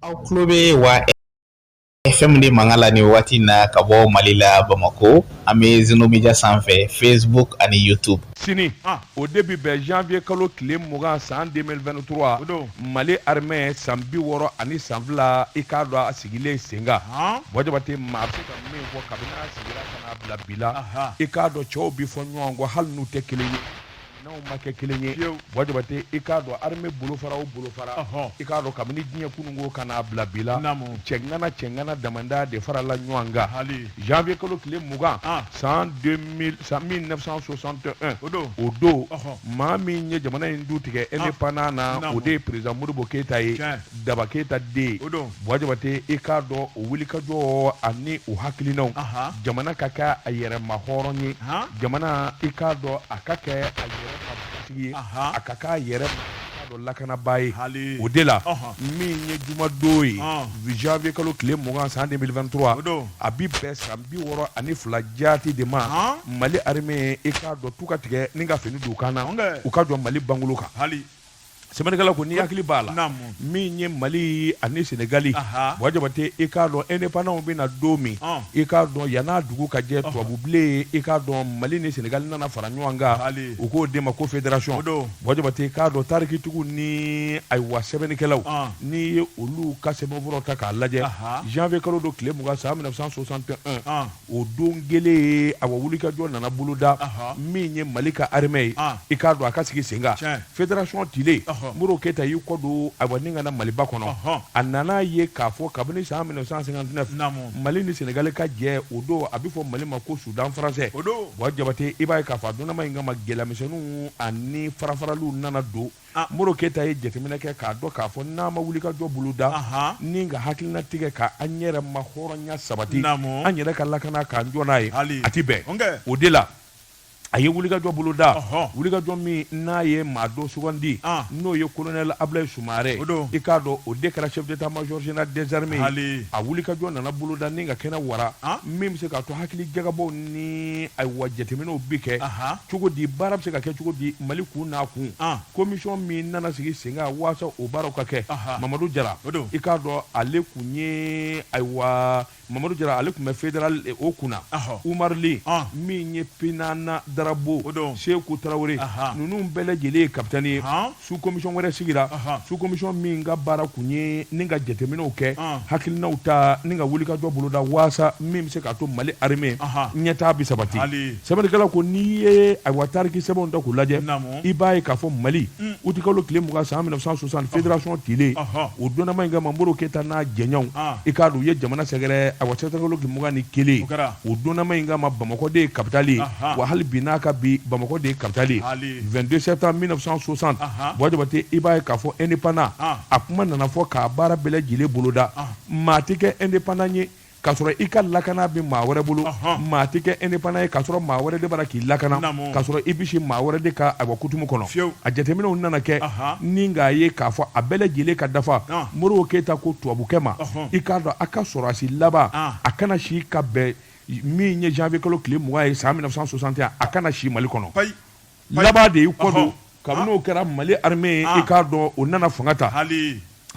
aw tulo bɛ wa FM de mankan la nin waati in na ka bɔ mali la bamakɔ an bɛ zeno media sanfɛ facebook ani youtube sini o de bɛ bɛn janvier kalo tile mugan san 2023 o don mali armée san bi wɔɔrɔ ani san fila i k'a dɔn a sigilen sen kan buwa jabate maa bɛ se ka min fɔ kabini a sigira ka n'a bila bi la i k'a dɔn cɛw bɛ fɔ ɲɔgɔn kɔ hali n'u tɛ kelen ye n'aw ma kɛ kelen ye buwa jabate i k'a dɔn armée bolofara o bolofara i k'a dɔn kabini diɲɛ kununko ka n'a bila bi la cɛŋana cɛŋana damadɔ de farala ɲɔgɔn kan hali janvier kalo tile mugan san 1961 o don o don maa min ye jamana in du tigɛ indépendant na o de ye président modibo keyita ye daba keyita den o don buwa jabate i k'a dɔn o wulikajɔ ani o hakilinaw Aha. jamana ka kɛ a yɛrɛ ma hɔrɔn ye Aha. jamana i k'a dɔn a ka kɛ a yɛrɛ ka batigi ye Aha. a ka kɛ a yɛrɛ ma k'a dɔn lakanabaa ye Hali. o de la Ɔhɔ. min ye jumadon ye Ɔn. janvier kalo tile mugan san 2023 O don. a bi bɛn san bi wɔɔrɔ ani fila jaati de ma Ɔn. mali armée i k'a dɔn tu ka tigɛ ni ka fini don u kan na Ɔnkɛ. u ka jɔ mali bangolo kan hali Sɛbɛnnikɛla ko ni hakili b'a la min ye mali ani senegali buwa jabate i k'a dɔn indépendant bɛna don min i k'a dɔn yann'a dugu ka jɛ tubabubilen i k'a dɔn mali ni senegali nana fara ɲɔgɔn kan u k'o de ma ko fédération don buwa jabate k'a dɔn tarikitigiw ni ayiwa sɛbɛnnikɛlaw n'i ye olu ka sɛbɛnfɔlɔ ta k'a lajɛ janvier kalo don tile mugan san 1961 o don kelen awa wulikajɔ nana boloda min ye mali ka armée ye i k'a dɔn a ka sigi sen kan fédération tile modibo keyita y'i kɔ don awa ni ka na maliba kɔnɔ a nana ye k'a fɔ kabini san 1959 mali ni senegali ka jɛ o don a bɛ fɔ mali ma ko soudan français o don buwa jabate i b'a ye k'a fɔ a donna min kama gɛlɛyamisɛnw ani farafaraliw nana don Modibo keyita ye jateminɛ kɛ k'a dɔn k'a fɔ n'a ma wulikajɔ boloda ni ka hakilina tigɛ ka an yɛrɛ ma hɔrɔnya sabati an yɛrɛ ka lakana k'an jɔ n'a ye a tɛ bɛn o de la a ye wulikajɔ boloda wulikajɔ min n'a ye maa dɔ sugandi n'o ye colonel ablaye sumare i k'a dɔn o de kɛra chef d'état-major général des armées a wulikajɔ nana boloda ni ka kɛnɛ wara min bɛ se k'a to hakili jagabɔw ni ayiwa jateminɛw bɛ kɛ cogo di baara bɛ se ka kɛ cogo di mali kun n'a kun commission min nana sigi sen kan waasa o baaraw ka kɛ mamadu jara i k'a dɔn ale kun ye ayiwa mamadu jara ale kun bɛ fédéral o kunna umaru li min ye pinana darabo seku tarawele ninnu bɛɛ lajɛlen ye capitaine ye sous-commission wɛrɛ sigira sous-commission min ka baara kun ye ni ka jateminɛw kɛ hakilinaw ta ni ka wulikajɔ boloda waasa min bɛ se k'a to mali armée ɲɛtaa bɛ sabati sɛbɛnnikɛla ko n'i ye ayiwa tariki sɛbɛnw ta k'u lajɛ i b'a ye k'a fɔ mali mm. utikalo tile mugan san 1960 fédération tilen o donnama in kama modibo keyita n'a jɛɲɔgɔnw i k'a dɔn u ye jamana sɛgɛrɛ ayiwa sɛbɛnnikɛla ko tile mugan ni kelen o donnama in kama bamakɔ de ye kapitali ye wa hali bi n'a ka bi bamakɔ de ye kapitali ye 22 septembre 1960 buwa jabate i b'a ye k'a fɔ indépendant a kuma nana fɔ ka baara bɛɛ lajɛlen boloda maa tɛ kɛ indépendant ye ka sɔrɔ i ka lakana bɛ maa wɛrɛ bolo maa tɛ kɛ indépendant ye ka sɔrɔ maa wɛrɛ de b'a la k'i lakana ka sɔrɔ i bɛ si maa wɛrɛ de ka ayiwa kutumu kɔnɔ a jateminɛw nana kɛ ni k'a ye k'a fɔ a bɛɛ lajɛlen ka dafa modibo keyita ko tubabukɛ ma i k'a dɔn a ka sɔrɔdasi laban a kana si ka bɛn min ye janvier kalo tile mugan ye san 1961 a kana si Mali kɔnɔ laban de y'i kɔ don kabini o kɛra Mali armée ye i k'a dɔn o nana fanga ta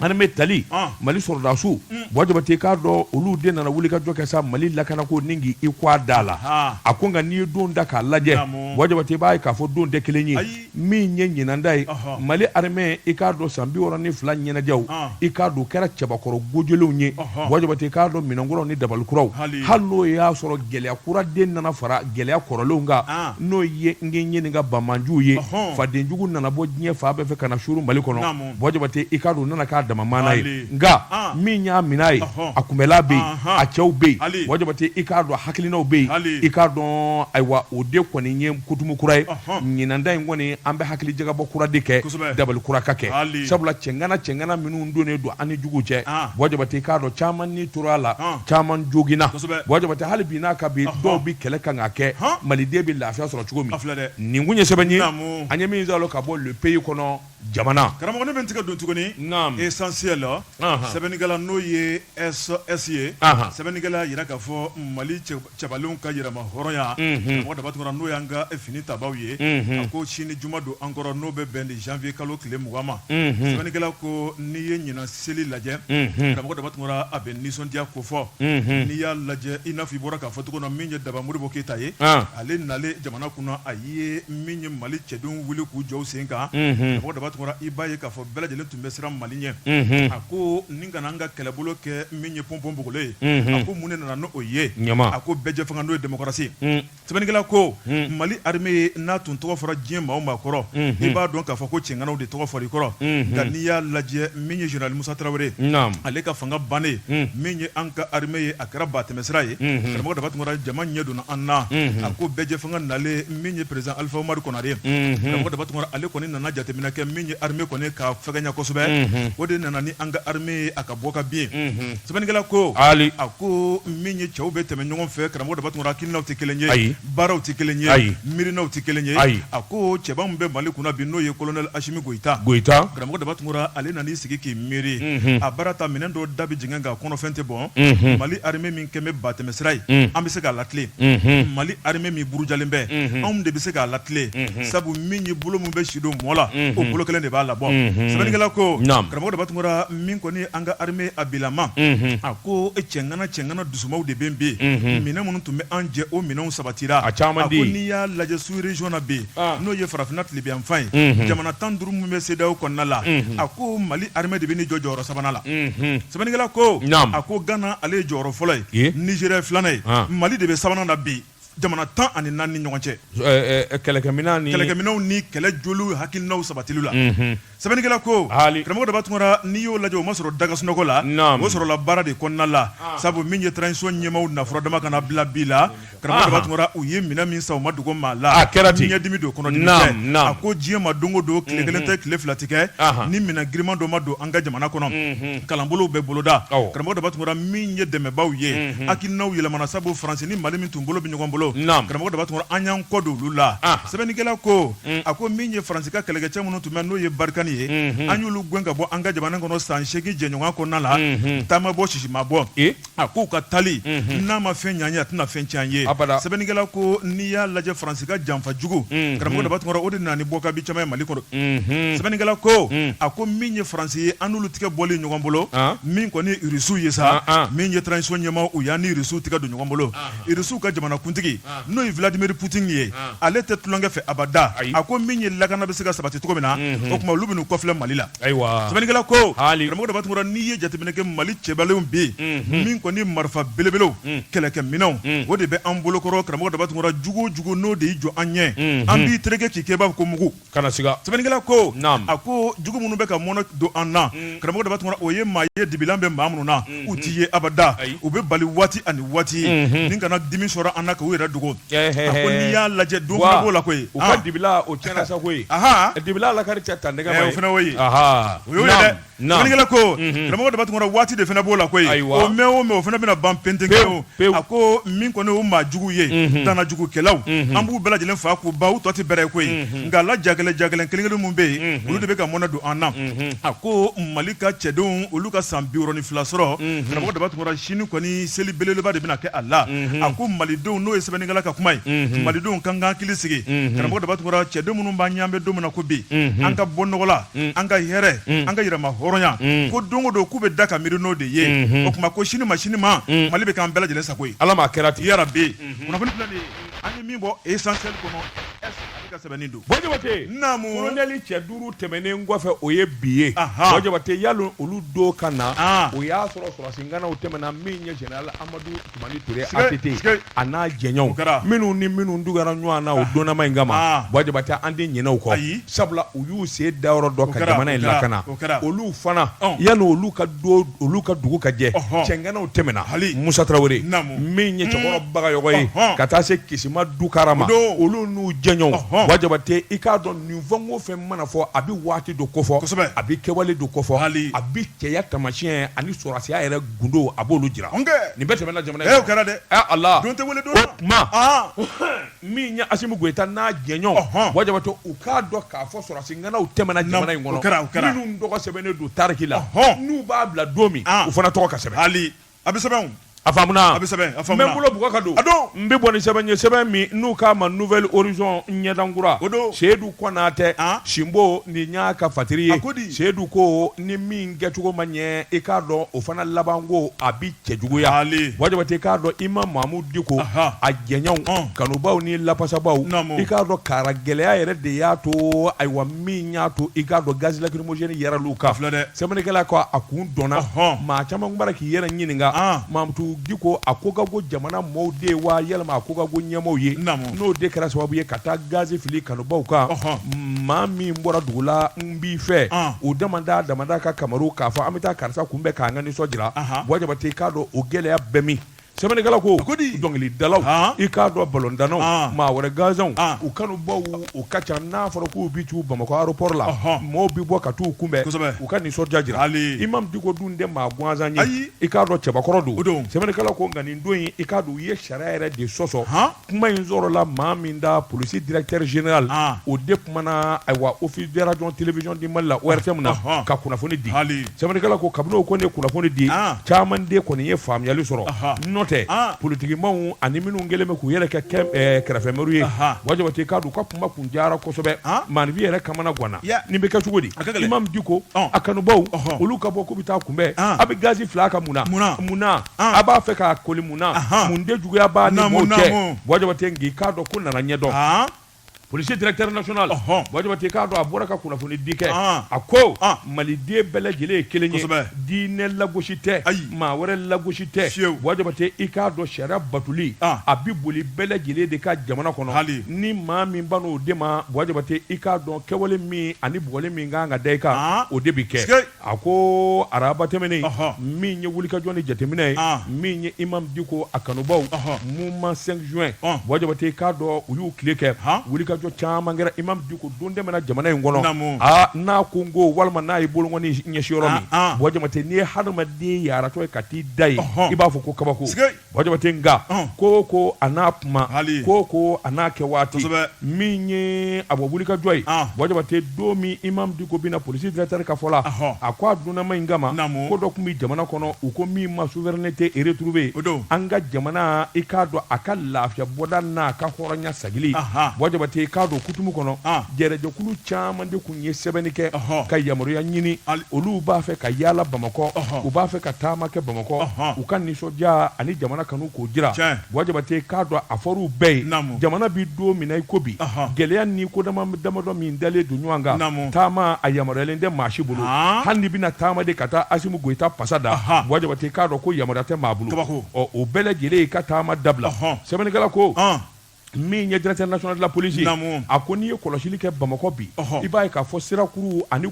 armée tali Mali sɔrɔdasiw Buwa Jabate i k'a dɔn olu de nana wulikajɔ kɛ sa Mali lakanako ni k'i i kun a da la a ko nka n'i ye don da k'a lajɛ Buwa Jabate i b'a ye k'a fɔ don tɛ kelen ye. min ye ɲinan ta ye mali armée i k'a dɔn san bi wɔɔrɔ ni fila ɲɛnajɛw i k'a dɔn kɛra cɛbakɔrɔ ko jɛlenw ye buwa jabate i k'a dɔn minɛn kuraw ni dabali kuraw hali n'o y'a sɔrɔ gɛlɛya kura de nana fara gɛlɛya kɔrɔlenw kan n'o ye n ɲininka banbaanciw ye fadenjugu nana bɔ diɲɛ fan bɛɛ fɛ ka na suuru mali kɔnɔ buwa jabate i k'a dɔn u nana k'a dama mana ye nka min y'a minɛ ye a kunbɛnna bɛ yen a cɛw bɛ yen buwa jabate i k'a dɔn hakilinaw bɛ yen i k'a dɔn ayiwa o de kɔni ye kutumu kura ye ɲinan ta in kɔni an bɛ hakili jagabɔ kura de kɛ dabali kura ka kɛ sabula cɛŋana cɛŋana minnu donnen don an ni jugu cɛ buwa jabate i k'a dɔn caman ni tora a la caman joginna buwa jabate hali bi n'a ka bi dɔw bɛ kɛlɛ kan ka kɛ maliden bɛ lafiya sɔrɔ cogo min nin kun ye sɛbɛn ye an ye min sɔrɔ ka bɔ le pays kɔnɔ jamana karamɔgɔ ne bɛ n tigɛ don tuguni essentiel la sɛbɛnnikɛla n'o ye SS ye sɛbɛnnikɛla y'a jira k'a fɔ mali cɛbalenw ka yɛrɛmahɔrɔnya karamɔgɔ daba tunkara n'o y'an ka finitabaw ye a ko sini juma don an kɔrɔ n'o bɛ bɛn janvier kalo tile mugan ma sɛbɛnnikɛla ko n'i ye ɲinan seli lajɛ karamɔgɔ daba tunkara a bɛ nisɔndiya ko fɔ n'i y'a lajɛ i n'a fɔ i bɔra k'a fɔ cogo min na min ye daba modibo keyita ye ale nalen jamana kunna a ye i ye min ye mali cɛdenw wuli k'u jɔ sen kan karamɔgɔ daba tunkara i b'a ye k'a fɔ bɛɛ lajɛlen tun bɛ siran mali ɲɛ a ko nin kana an ka kɛlɛbolo kɛ min ye pɔnpɔnpogolo ye a ko mun ne nana n'o ye a ko bɛɛjɛfanga n'o ye démocratie sɛbɛnnikɛla ko mali armée n'a tun tɔgɔ fɔra diɲɛ maa o maa kɔrɔ i b'a dɔn k'a fɔ ko cɛŋanaw de tɔgɔ fɔra i kɔrɔ nka n'i y'a lajɛ min ye général musa tarawele ale ka fanga bannen min ye an ka armée ye a kɛra ba tɛmɛsira ye karamɔgɔ daba tunkara jama ɲɛ donna an na a ko bɛɛjɛ fanga nalen min ye perezidan alifa umaru konare karamɔgɔ daba tunkara ale kɔni nana jateminɛ kɛ min ye armée kɔni ka fɛgɛnya kosɛbɛ o de nana ni an ka armée a ka bɔ ka bin sɛbɛnnikɛla ko a ko min ye cɛw bɛ tɛmɛ ɲɔgɔn fɛ karamɔgɔ daba tunkara hakilinaw tɛ kelen ye baaraw tɛ kelen ye ayi miirinaw tɛ kelen ye ayi a ko cɛba min bɛ mali kunna bi n'o ye kolonɛli asimi goyita karamɔgɔ daba tunkara ale nan'i sigi k'i miiri a baara ta minɛn dɔ da bɛ jiginɛ kan kɔnɔfɛn tɛ bɔn mali ha kɛlen bɛ ba tɛmɛsira ye an bɛ se k'a latilen mali armée min burujalen bɛ anw de bɛ se k'a latilen sabu min ye bolo min bɛ si don mɔ la o bolo kelen de b'a labɔ sɛbɛnnikɛla ko karamɔgɔ daba tunkara min kɔni an ka armée a bilama a ko e cɛŋana cɛŋana dusumaw de bɛ bɛ yen minɛn minnu tun bɛ an jɛ o minɛnw sabatira a ko n'i y'a lajɛ sous-région na bi n'o ye farafinna tilebinyanfan ye jamana tan duuru min bɛ CEDEAO kɔnɔna la a ko mali armée de bɛ ni jɔ jɔyɔrɔ sabanan la Sɛbɛnnikɛla ko a ko gana ale ye jɔyɔrɔ fɔlɔ ye nizeriya filanan ye mali de bɛ sabanan na bi jamana tan ani naani ni ɲɔgɔn cɛ kɛlɛkɛminɛnw ni kɛlɛ joliw hakilinaw sabatili la sɛbɛnnikɛla ko karamɔgɔ daba tunkara n'i y'o lajɛ o ma sɔrɔ da ka sunɔgɔ la o sɔrɔla baara de kɔnɔna la sabu min ye transition ɲɛmaw nafolo dama kana bila bi la karamɔgɔ daba tunkara u ye minɛn min san u ma dogo maa la a kɛra di ɲɛdimi don kɔnɔdimi tɛ a ko diɲɛ ma don o don tile kelen tɛ tile fila tɛ kɛ ni minɛ girinman dɔ ma don an ka jamana kɔnɔ kalanbolow bɛ boloda karamɔgɔ daba tunkara min ye dɛmɛbaw ye hakilinaw yɛlɛmana sabu faransi ni mali min tun bolo bɛ ɲɔgɔn bolo karamɔgɔ daba tunkara an y'an kɔ don olu la sɛbɛnnikɛla ko a ko min ye faransi ka kɛlɛkɛcɛ minnu tun bɛ n'o ye barikani ye an y'olu gɛn ka bɔ an ka jamana kɔnɔ san seegin jɛɲɔgɔnya kɔnɔna la ta ma bɔ sisi ma bɔ A k'u ka taali n'a ma fɛn ɲa an ye a tɛna fɛn cɛn an ye sɛbɛnnikɛla ko n'i y'a lajɛ faransi ka janfa jugu karamɔgɔ daba tunkara o de nana ni bɔ ka bin caman ye mali kɔnɔ sɛbɛnnikɛla ko a ko min ye faransi ye an n'olu tigɛ bɔli ɲɔgɔn bolo min kɔni irisiw ye sa min ye transition ɲɛmaw y'an ni irisiw tigɛ don ɲɔgɔn bolo irisiw ka jamanakuntigi n'o ye vladimir putini ye ale tɛ tulonkɛ fɛ abada a ko min ye lakana bɛ se ka sabati cogo min na o tuma olu bɛ n'u kɔfilɛ mali la ayiwa sɛbɛnnikɛla ko karamɔgɔ daba tunkara n'i ye jateminɛ kɛ mali cɛbalenw bɛ yen min kɔni marifa belebelew kɛlɛkɛminɛnw o de bɛ an bolokɔrɔ karamɔgɔ daba tunkara jugu o jugu n'o de y'i jɔ an ɲɛ an b'i tereke k'i kɛba ko mugu Kana siga sɛbɛnnikɛla ko naam a ko jugu minnu bɛ ka mɔnɛ don an na unnn karamɔgɔ daba tunkara o ye maa ye dibilan bɛ maa minnu na unhun u t'i ye abada ayi u b'i bali waati ani waati unhun nin kana dimi sɔrɔ an na k'u yɛrɛ dogo ɛhɛɛ a ko n'i y'a lajɛ don fana b'o la koyi ɔɔn u ka dibila o tiɲɛna sa koyi anhaan dibila lakari tɛ ta nɛgɛ ma ye ɛ o fɛnɛ y'o ye ahaa o y'o ye dɛ naam Sɛbɛnnikɛla ko karamɔgɔ daba tunkara waati de fana b'o la koyi o mɛɛn o mɛɛn o fana bɛna ban pentenkɛ o a ko min kɔni o maa jugu ye danajugukɛlaw an b'u bɛɛ lajɛlen fa k'u ban u tɔ tɛ bɛrɛ ye koyi nka a la jagɛlɛn jagɛlɛn kelen kelen minnu bɛ yen olu de bɛ ka mɔnɛ don an na a ko mali ka cɛdenw olu ka san biwɔɔrɔ ni fila sɔrɔ karamɔgɔ daba tunkara sini kɔni seli belebeleba de bɛna kɛ a la a ko malidenw n'o ye sɛbɛnnikɛla ka kuma ye malidenw k'an k'an hakili sigi karamɔgɔ daba tunkara cɛdenw minnu b'an ɲɛ an bɛ don min na ko bi an ka bɔ nɔgɔ la mm. an ka hɛrɛ mm. an ka yɛrɛma hɔrɔnya mm. ko don o don k'u bɛ da ka miiri n'o de ye mm-hmm. o tuma ko sini ma sini ma mm. mali bɛ k'an bɛɛ lajɛlen sago ye ala m'a kɛra ten yarabi mm-hmm. kunnafoni filɛ nin ye an ye min bɔ essentiel kɔnɔ ka sɛbɛnni don bɔjabate naamu kolonɛli cɛ duuru tɛmɛnen kɔfɛ o ye bi ye bɔjabate yalo olu don ka na ah. o y'a sɔrɔ sɔrɔsi ŋanaw tɛmɛna min ye general amadu a n'a jɛɲɔgɔn minnu ni minnu dugara ɲɔgɔn na o donma in kama bɔjabate an tɛ ɲinɛ u kɔ sabula u y'u sen da yɔrɔ dɔ ka jamana in lakana olu fana yan olu ka olu ka dugu ka jɛ cɛŋanaw tɛmɛna musa tarawele min ye cɛkɔrɔ bagayɔgɔ ye ka taa se kisima dukara ma olu n'u jɛɲɔgɔnw bɔjabate i k'a dɔn nin fɛn o fɛn mana fɔ a bɛ waati dɔ kofɔ a bɛ kɛwale dɔ kofɔ a bɛ cɛya taamasiyɛn ani sɔrɔsiya yɛrɛ gundo a b'olu jira nin bɛɛ tɛmɛna jamana ye o kɛra dɛ a la don tɛ wele don tuma min ye asimi goyita n'a jɛɲɔgɔn bɔjabate u k'a dɔn k'a fɔ sɔrɔsi ŋanaw tɛmɛna jamana in kɔnɔ kɛra kɛra minnu tɔgɔ sɛbɛnnen don tariki la hɔn n'u b'a bila don min u fana tɔgɔ ka sɛbɛn hali a bɛ sɛbɛn a a bɛ sɛbɛn n bɛ n bolo bugɔ ka don a don n bɛ bɔ ni sɛbɛn ye sɛbɛn min n'u k'a ma nouvel horizon ɲɛdankura o don seyidu konatɛ sinbo nin y'a ka fatiri ye ko di seyidu ko ni min kɛcogo ma ɲɛ i k'a dɔn o fana laban ko a bɛ cɛjuguya bɔjabate i k'a dɔn imamu mamudu diko a jɛɲɔgɔnw kanubaw ni lafasabaw i k'a dɔn karagɛlɛya yɛrɛ de y'a to ayiwa min y'a to i k'a dɔn gaz lacrymogène yɛrɛ l'u kan filɛ dɛ sɛbɛnnikɛla ko a kun dɔnna maa caman b'a la k'i yɛrɛ ɲininka mamudu diko a ko ka go jamana mɔɔw de ye wa yalima a ko ka go ɲɛmɔɔw ye n'o de kɛra sababu ye ka taa gazi fili kanubaw kan maa min bɔra dugu la n b'i fɛ o damada damada ka kamaru k'a fɔ an bɛ taa karisa kunbɛn k'an ka nisɔn jira bɔjabate i k'a dɔn o gɛlɛya bɛɛ min sɛbɛnnikɛla ko ko di dɔnkilidalaw i k'a dɔn balɔntannaw maa wɛrɛ gansanw u kanubaw u ka ca n'a fɔra k'u bɛ taa bamakɔ aéroport la maaw bɛ bɔ ka taa u kunbɛn u ka nisɔndiya jira imamu diko dun tɛ maa gansan ye i k'a dɔn cɛbakɔrɔ don don sɛbɛnnikɛla ko nka nin don in i k'a dɔn u ye sariya yɛrɛ de sɔsɔ kuma in sɔrɔla maa min da polisi directeur général an, o de kumana ayiwa office de radio télévision du Mali la ORTM na Ɔhɔn. ka kunnafoni di Hali. sɛbɛnnikɛla ko kabini o kɔni ye kunnafoni di An. caman de kɔni ye faamuyali sɔrɔ Aha. n'o tɛ An. politikimaw ani minnu kɛlen bɛ k'u yɛrɛ kɛ kɛ eh, kɛrɛfɛmɛriw ye Aha. Buwa Jabate i k'a dɔn u ka kuma kun diyara kosɛbɛ An. maaninfin yɛrɛ kamanaganna Ya. nin bɛ kɛ cogo di A ka gɛlɛn. Imam Diko Ɔn. a kanubaw Ɔhɔn. olu ka bɔ k'u bɛ taa a kunbɛn An. a bɛ gazi fili a kan mun na Mun na? mun na a b'a fɛ k'a koli mun na mun de juguya b'a ni mɔɔw cɛ Buwa Jabate nk'i k'a dɔn ko nana ɲɛdɔn polisi directeur national Buwa Jabate i k'a dɔn a bɔra ka kunnafoni di kɛ a ko Maliden bɛɛ lajɛlen ye kelen ye diinɛ lagosi tɛ maa wɛrɛ lagosi tɛ fiyewu Buwa Jabate i k'a dɔn sariya batoli a bɛ boli bɛɛ lajɛlen de kan jamana kɔnɔ hali ni maa min ban'o de ma Buwa Jabate i k'a dɔn kɛwale min ani bugɔli min ka kan ka da i kan o de bɛ kɛ sikei. a ko araba tɛmɛnen min ye wulikajɔ ni jateminɛ ye min ye Imam Diko a kanubaw mouvement cinq juin Buwa Jabate k'a dɔn u y'u tile kɛ wulikajɔ caman kɛra Imam Diko don dɛmɛ na jamana in kɔnɔ aa n'a ko n ko walima n'a ye bolonkɔni ɲɛsin yɔrɔ min Buwa Jabate n'i ye hadamaden yaaratɔ ye ka t'i da yen i b'a fɔ ko kabako Buwa Jabate nka ko ko a n'a kuma ko ko a n'a kɛ waati min ye a bɔ wulikajɔ ye Buwa Jabate don min Imam Diko bɛ na polisi directeur ka fɔ la a ko a dunanma in kama ko dɔ tun bɛ jamana kɔnɔ u ko min ma souveraineté retrouvée an ka jamana i k'a dɔn a ka lafiya bɔda n'a ka hɔrɔnya sagili Buwa Jabate k'a dɔn kutumu kɔnɔ jɛrɛjɛkulu caman de kun n ye sɛbɛnni kɛ ka yamaruya ɲini olu b'a fɛ ka yaala Bamakɔ u b'a fɛ ka taama kɛ Bamakɔ u ka nisɔndiya ani jamana kanu k'o jira Buwa Jabate k'a dɔn a fɔr'u bɛɛ ye jamana bɛ don min na i ko bi gɛlɛya ni ko damadɔ min dalen don ɲɔgɔn kan taama a yamaruyalen tɛ maa si bolo hali n'i bɛna taama de ka taa Asimi Goyita pasa da Buwa Jabate k'a dɔn ko yamaruya tɛ maa bolo o bɛɛ lajɛlen i ka taama dabila sɛbɛnnikɛla ko min ye directeur national de la police Naamu. a ko n'i ye kɔlɔsili kɛ Bamakɔ bi Ɔhɔ. i b'a ye k'a fɔ sirakuru ani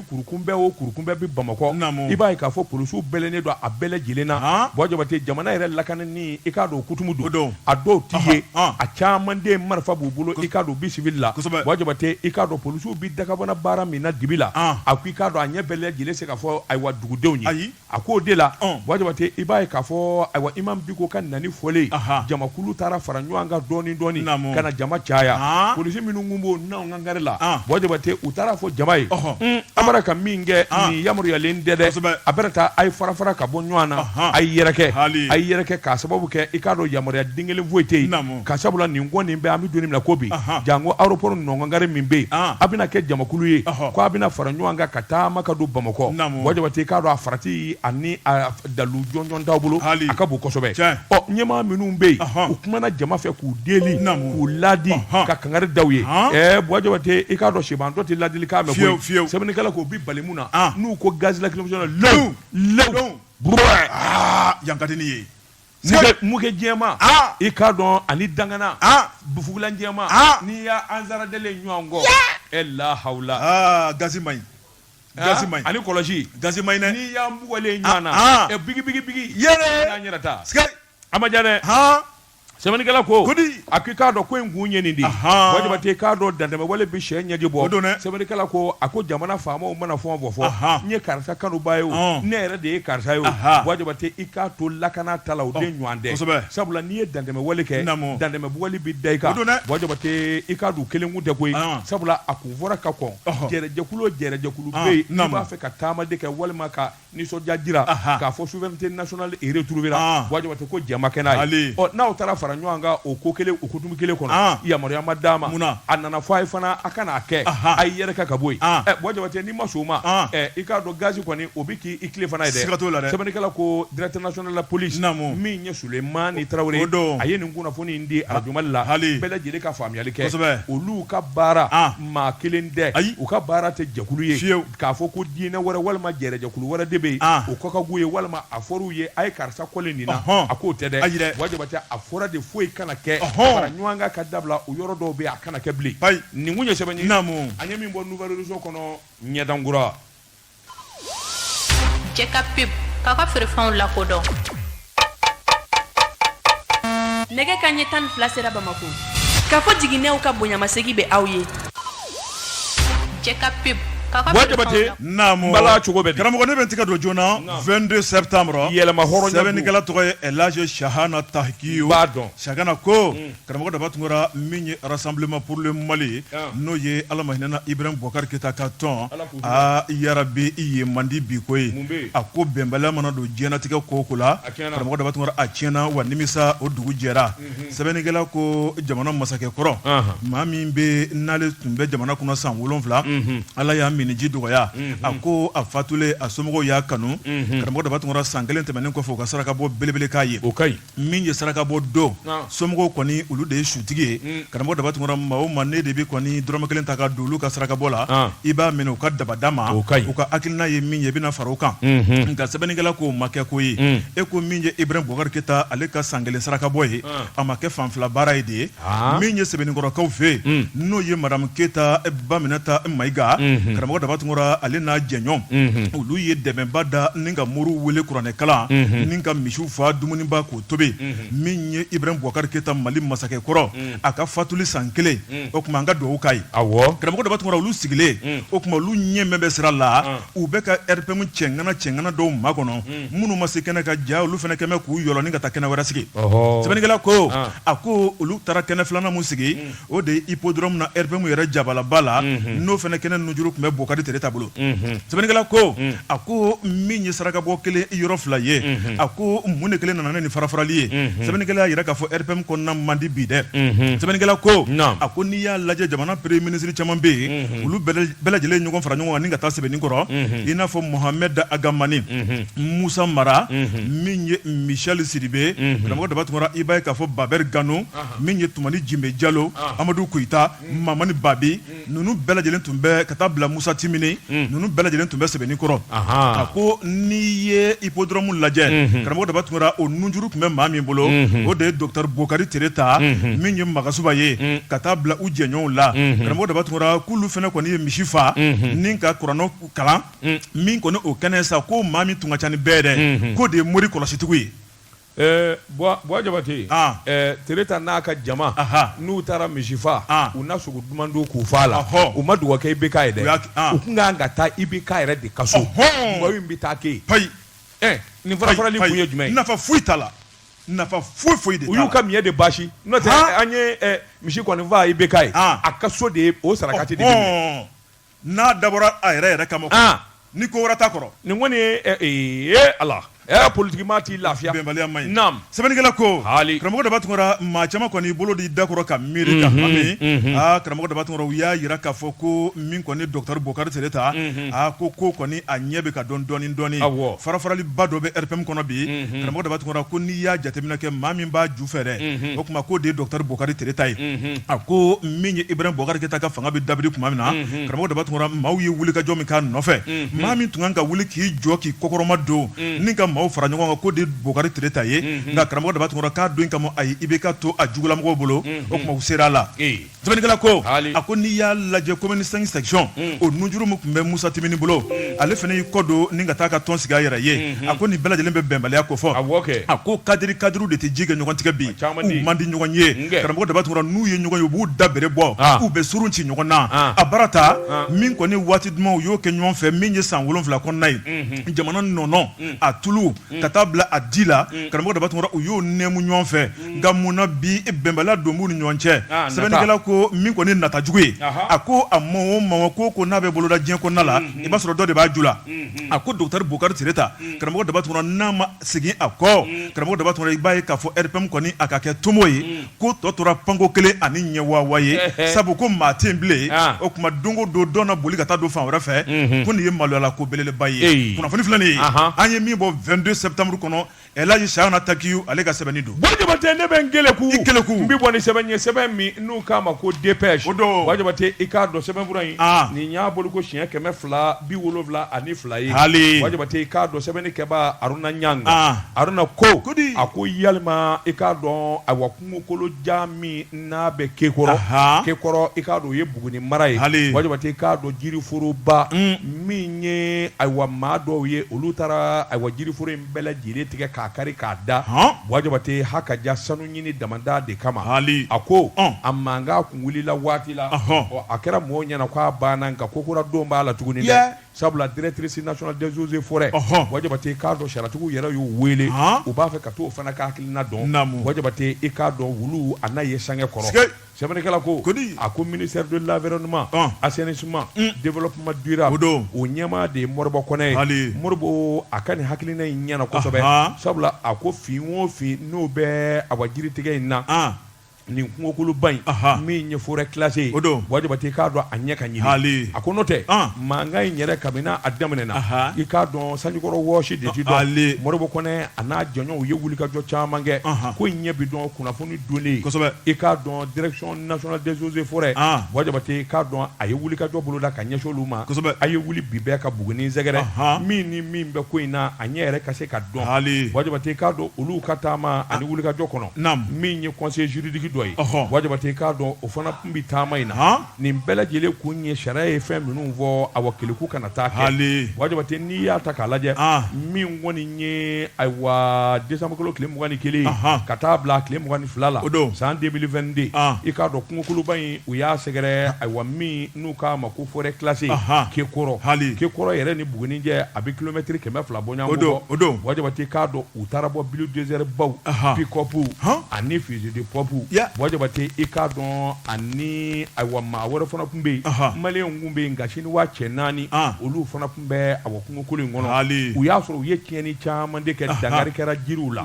kurukunbɛ o kurukunbɛ bɛ Bamakɔ Naamu. i b'a ye k'a fɔ polisiw bɛlɛnnen don a bɛɛ lajɛlen na Han. Buwa Jabate jamana yɛrɛ lakanani i k'a dɔn o kutumu O don. don a dɔw t'i Ɔhɔ, ye ɔn. a caman den marifa b'u bolo i k'a dɔn u bɛ civil la Kosɛbɛ. Buwa Jabate i k'a dɔn polisiw bɛ dagabana baara min na dibi la Ɔn. a ko i k'a dɔn a ɲɛ bɛɛ lajɛlen se k'a fɔ ayiwa dugudenw ye Ayi. a ko o de la Buwa Jabate i b'a ye k'a fɔ ayiwa Imam Diko ka nani fɔlen jamakulu taara fara ɲɔgɔn kan dɔɔni dɔɔni ka na jama caya polisi minnu tun b'o n gari la Buwa Jabate u taara a fɔ jama ye a bɛra ka min kɛ nin yamaruyalen tɛ dɛ a bɛra taa a ye farafara ka bɔ ɲɔgɔn na a ye yɛrɛkɛ a ye yɛrɛkɛ k'a sababu kɛ i k'a dɔn yamaruya den kelen foyi tɛ yen ka sabula nin ko nin bɛ an bɛ don min na ko bi janko aéroport nɔnkɔnkari min bɛ yen a bɛna kɛ jamakulu ye ko a bɛna fara ɲɔgɔn kan ka taama ka don bamakɔ buwa jabate i k'a dɔn a farati ani a dalu jɔnjɔn t'aw bolo a ka bon kosɛbɛ ɔ ɲɛmaa minnu bɛ yen u kumana jama fɛ k'u deli k'u ladi ka kankari da u ye ɛɛ buwa jabate i k'a dɔn sibantɔ tɛ ladilikan mɛn fiyewu fiyewu sɛbɛnnikɛla k'o b'i bali mun na n'u ko gaz lacrymogène lewu lewu lewu buruwɛɛ aa yan ka di ni ye mugujɛma i k'a dɔn ani dangana bufugula jɛma n'i y'a ansara deli ɲɔgɔn kɔ e la hawla gaz man ɲi ani kɔlɔsi gaz man ɲi n'i y'an bugɔlen ɲɔgɔn na biki yɛrɛ yɛrɛ ta a ma diya dɛ sɛbɛnnikɛla ko a ko i k'a dɔn ko in kun ye nin de ye Ahan. Buwa Jabate i k'a dɔn dantɛmɛ wale bɛ cɛ ɲɛji bɔ O don dɛ. sɛbɛnnikɛla ko a ko jamana faamaw mana fɛn o fɛn fɔ Ahan. n ye karisa kanuba ye o Ɔn. ne yɛrɛ de ye karisa ye o Ahan. Buwa Jabate i k'a to lakana ta la o de ɲɔgɔn tɛ kosɛbɛ. sabula n'i ye dantɛmɛ wale kɛ Naamu. dantɛmɛ wale bɛ da i kan O don dɛ. Buwa Jabate i k'a dɔn kelen kun tɛ koyi Ɔn. sabula a kun fɔra ka kɔn Ɔhɔ. jɛrɛjɛkulu o jɛrɛjɛkulu Ɔn, bɛ yen n'i naamu. b'a fɛ ka taama de kɛ walima ka nisɔndiya jira k'a fɔ souveraineté nationale retrouvéra Buwa Jabate ko jɛn ma kɛ n'a ye, ɔ n'aw taara fara ɲɔgɔn kan o ko kelen o hukumu kelen kɔnɔ yamaruya ma d'a ma, munna, a nana fɔ a ye fana a kana a kɛ a y'i yɛrɛkɛ ka bɔ yen, ɛ Buwa Jabate n'i ma sɔn o ma ɛ i k'a dɔn gaz kɔni o bɛ k'i tilefana ye dɛ, siga t'o la dɛ, sɛbɛnnikɛla ko directeur national de la police min ye Suleyimani Tarawele ye, o don, a ye nin kunnafoni in di arajo Mali la bɛɛ lajɛlen ka faamuyali kɛ, kosɛbɛ, olu ka baara maa kelen tɛ, ayi, u ka baara tɛ jɛkulu ye, fiyew k'a fɔ ko diinɛ wɛrɛ walima jɛrɛjɛkulu wɛrɛ de bɛ yen ah. o kɔkagu ye walima a fɔr'u ye a ye karisa kɔlen nin na a k'o tɛ dɛ Buwa Jabate a fɔra de foyi kana kɛ fara ɲɔgɔn kan ka dabila o yɔrɔ dɔw bɛ a kana kɛ bilen nin tun ye sɛbɛn ye an ye min bɔ Nouvel Horizon kɔnɔ ɲɛdan kura Jeka Pip k'a ka feerefɛnw lakodɔn nɛgɛ kanɲɛ tan ni fila sera bamakɔ ka fɔ jiginɛw ka bonyamasegin bɛ aw ye Jeka Pip Buwa Jabate bala cogo karamɔgɔ in bɛ tigɛ don joona vingt-deux septembre yɛrɛmahɔrɔnya sɛbɛnnikɛla tɔgɔ ye El Hadj Chahana Takiou Chahana ko Karamɔgɔ Daba Tunkara min ye Rassemblement pour le Mali ye n'o ye ala ma hinɛ a la Ibrahim Boubacar Keïta ka tɔn aa RPM man di bi koyi a ko bɛnbaliya mana don diɲɛnatigɛ ko o ko la karamɔgɔ Daba Tunkara a tiɲɛna wa nimisa o dugu jɛra sɛbɛnnikɛla ko jamana masakɛ kɔrɔ maa min bɛ n'ale tun bɛ jamana kunna san wolonwula ala y'a minniji dɔgɔya a ko a fatulen a somɔgɔw y'a kanu karamɔgɔ Daba Tunkara san kelen tɛmɛnen kɔfɛ u ka sarakabɔ belebele k'a ye o ka ɲi min ye sarakabɔ don somɔgɔw kɔni olu de ye sutigi ye mm. karamɔgɔ daba tunkara maa o maa ne de bɛ kɔni dɔrɔmɛ kelen ta ka don olu ka sarakabɔ la ah. i b'a minɛ u ka dabada ma u ka hakilina ye min ye i bɛna fara o kan mm-hmm. nka sɛbɛnnikɛla k'o ma kɛ ko ye mm. e ko min ye ibrahim bubakari keyita ale ka san kelen sarakabɔ ye ah. a ma kɛ fanfila baara ye de ye min ye sɛbɛnninkɔrɔkaw fɛ yen n'o ye madamu keyita baminata mayiga karamɔgɔ daba tunkara ale n'a jɛɲɔgɔn olu ye dɛmɛba da ni ka moriw weele kuranɛ kalan ni ka misi faa dumuniba k'o tobi min ye ibrahim bubakari keyita mali masakɛ kɔrɔ a ka fatuli san kelen o tuma an ka dugawu k'a ye karamɔgɔ daba tunkara olu sigilen o tuma olu ɲɛ bɛ sira la u bɛ ka rpm cɛŋana cɛŋana dɔw makɔnɔ minnu ma se kɛnɛ kan jaa olu fana kɛmɛ k'u yɔrɔ ni ka taa kɛnɛ wɛrɛ sigi sɛbɛnnikɛla ko a ko olu taara kɛnɛ filanan min sigi o de hippodrome na rpm yɛrɛ jabalaba la n'o fana kɛnɛ nunjuru tun bɛ bokari tereta bolo sɛbɛnnikɛla ko a ko min ye sarakabɔ kelen yɔrɔ fila ye a ko mun de kelen nana ni farafarali ye sɛbɛnnikɛla y'a yira k'a fɔ rpm kɔnɔna man di bi dɛ sɛbɛnnikɛla ko a ko n'i y'a lajɛ jamana premier ministre caman bɛ yen olu bɛ bɛɛ lajɛlen ɲɔgɔn fara ɲɔgɔn kan ni ka taa sɛbɛnninkɔrɔ i n'a fɔ mohamɛd ag hamani musa mara min ye michel sidibe karamɔgɔ daba tunkara i b'a ye k'a fɔ babɛri gano min ye tumani jime jalo amadu koyita mamani babi ninnu bɛɛ lajɛlen tun bɛ ka taa bila musa timini ninnu bɛɛ lajɛlen tun bɛ sɛbɛnninkɔrɔ a ko n'i ye hippodrome lajɛ karamɔgɔ daba tunkara o nunjuru tun bɛ maa min bolo o de ye docteur bokari tereta min ye magasuba ye ka taa bila u jɛɲɔgɔnw la karamɔgɔ daba tunkara k'olu fana kɔni ye misi faa ni ka kuranɛ kalan min kɔni o kɛnɛ sa ko maa min tun ka ca ni bɛɛ dɛ k'o de ye mori kɔlɔsitigiw ye buwa jabate tereta n'a ka jama n'u taara misi faa u na sogo duman dun k'u fa la u ma dugawu kɛ ibk ye dɛ u tun ka kan ka taa ibk yɛrɛ de ka so mɔgɔ bɛ taa kɛ Ɛɛ nin farafarali kun ye jumɛn ye? Nafa foyi t'a la. Nafa foyi foyi de t'a la. U y'u ka miɲɛ de basi n'o tɛ an ye misi kɔni faa IBK ye, a ka so de ye o sarakati de minɛ. N'a dabɔra a yɛrɛ yɛrɛ kama kɔni, ni ko wɛrɛ t'a kɔrɔ. Nin kɔni ye ee Ala, ɛɛ politique maa t'i lafiya. Bɛnbaliya man ɲi. Naamu. Sɛbɛnnikɛla ko karamɔgɔ daba tunkara maa caman kɔni bolo di da kɔrɔ ka miiri ka hami karamɔgɔ daba tunkara u y'a yira k'a fɔ ko min kɔni docteur bokari tereta a ko ko kɔni a ɲɛ bɛ ka dɔn dɔɔnin dɔɔnin farafaraliba dɔ bɛ rpm kɔnɔ bi karamɔgɔ daba tunkara ko n'i y'a jateminɛ kɛ maa min b'a ju fɛ dɛ o tuma k'o de ye docteur bokari tereta ye a ko min ye ibrahim bubakari keyita ka fanga bɛ dabiri tuma min na karamɔgɔ daba tunkara maaw ye wulikajɔ min k'a nɔfɛ maa min tun kan ka wuli k'i jɔ k'i kɔkɔrɔma don ni ka maaw fara ɲɔgɔn kan ko de bokari tereta ye nka karamɔgɔ daba tumura k'a don kama a i bɛ ka to a jugulamɔgɔ bolo o tuma sera a la sɛbɛnnikɛla ko a ko n'i y'a lajɛ commune cinq section o nunjuru min tun bɛ musa timbine bolo ale fana y'i kɔ don ni ka taa ka tɔn sigi a yɛrɛ ye a ko nin bɛɛ lajɛlen bɛ bɛnbaliya ko fɔ a ko kadiriw de tɛ ji kɛ ɲɔgɔn tigɛ bi u man di ɲɔgɔn ye karamɔgɔ daba tumura n'u ye ɲɔgɔn ye u b'u da bere bɔ k'u bɛ surunci ɲɔgɔn na a baara ta min kɔni waati duman u y'o kɛ ɲɔgɔn fɛ min ye san wolonwula kɔnɔna ye jamana nɔnɔ mm. a tulu mm. ka taa bila a di la mm. karamɔgɔ daba tumura u y'o nɛmu ɲɔgɔn fɛ nka mun na bi bɛnbaliya don b'u ni ɲɔgɔn cɛ ah, sɛbɛnnikɛla ko min kɔni nata jugu ye a ko a ma o ma ko ko n'a bɛ boloda diɲɛ kɔnɔna la i b'a sɔrɔ dɔ de b'a ju la a ko docteur bokari tereta karamɔgɔ daba tumura n'a ma Segin a kɔ karamɔgɔ daba tumura i b'a ye k'a fɔ RPM kɔni a ka kɛ tomo ye ko tɔ tora panko kelen ani ɲɛwawa ye sabu ko maa tɛ bilen o tuma don o don dɔ na boli ka taa don fan wɛrɛ fɛ ko nin ye maloyala ko belebeleba ye kunnafoni filɛ nin ye an ye min bɔ vingt-deux septembre kɔnɔ elaji chahana takiou ale ka sɛbɛnni don wajabate ne bɛ n keleku keleku n bɛ bɔ ni sɛbɛn ye sɛbɛn min n'u k'a ma ko dépêche wajabate i k'a dɔn sɛbɛnfura in nin y'a bolo ko siɲɛ kɛmɛ fila bi wolonwula ani fila ye hali wajabate i k'a dɔn sɛbɛnnikɛbaa aruna ɲanga ah. aruna ko ko di a ko yalima i k'a dɔn awa kungokolojan min n'a bɛ kekɔrɔ kekɔrɔ i k'a dɔn o ye buguni mara ye hali wajabate i k'a dɔn jiriforoba mm. min ye ayiwa maa dɔw ye olu taara ayiwa jiriforo in bɛɛ lajɛlen tigɛ k'a kari k'a da wajabate ha ka ja sanu ɲini damada de kama hali a ko a mankan kun wulila waati la a kɛra mɔgɔw ɲɛna k'a banna nka ko kura dɔ b'a la tuguni dɛ sabula directrice nationale des eaux et forêts wajabate k'a dɔn sariyatigiw yɛrɛ y'o wele u b'a fɛ ka to o fana ka hakilina dɔn wajabate i k'a dɔn olu a n'a ye sange kɔrɔ Sɛbɛnnikɛla ko ko di a ko ministère de l'environnement assainissement développement durable o ɲɛmaa de ye moribo kɔnɛ ye hali moribo a ka nin hakilina in ɲɛna kosɛbɛ sabula a ko fɛn o fɛn n'o bɛ awa jiritigɛ in na nin kungokoloba in min ye forêt classée wajabate i k'a dɔn a ɲɛ ka ɲini hali a ko n'o tɛ mankan in yɛrɛ kabini a daminɛna i k'a dɔn sanjikɔrɔ wɔsi de tɛ dɔn moribo kɔnɛ a n'a jɔɲɔgɔnw ye wulikajɔ caman kɛ ko in ɲɛ bɛ dɔn kunnafoni don i k'a dɔn direction nationale des eaux et forêts wajabate k'a dɔn a ye wulikajɔ boloda ka ɲɛsin olu ma a ye wuli bi bɛɛ ka buguni sɛgɛrɛ min ni min bɛ ko in na a ɲɛ yɛrɛ ka se ka dɔn hali wajabate k'a dɔn olu ka taama ani wulikajɔ kɔnɔ min ye conseil juridique dɔ ye wajabate k'a dɔn o fana tun bɛ taama in na Nin bɛɛ lajɛlen kun ye sariya ye fɛn minnu fɔ awa keleku kana taa kɛ hali wajabate n'i y'a ta k'a lajɛ min kɔni ye ayiwa desanburukalo tile mugan ni kelen ka taa bila a tile mugan ni fila la o don san deux mille vingt-deux i k'a dɔn kungokoloba in u y'a sɛgɛrɛ ayiwa min n'u k'a ma ko forêt classée kekɔrɔ hali kekɔrɔ yɛrɛ ni buguni cɛ a bɛ kilomɛtiri kɛmɛ fila bɔ o don o don wajabate i k'a dɔn u taara bɔ bulldozer baw pick-up ani fusil de pompe wajabate i k'a dɔn ani ni ayiwa maa wɛrɛ fana tun bɛ yen maliyɛnw tun bɛ yen nka siniwa cɛ naani olu fana tun bɛ a kungokolo in kɔnɔ u y'a sɔrɔ u ye tiɲɛni caman de kɛ dangari kɛra jiriw la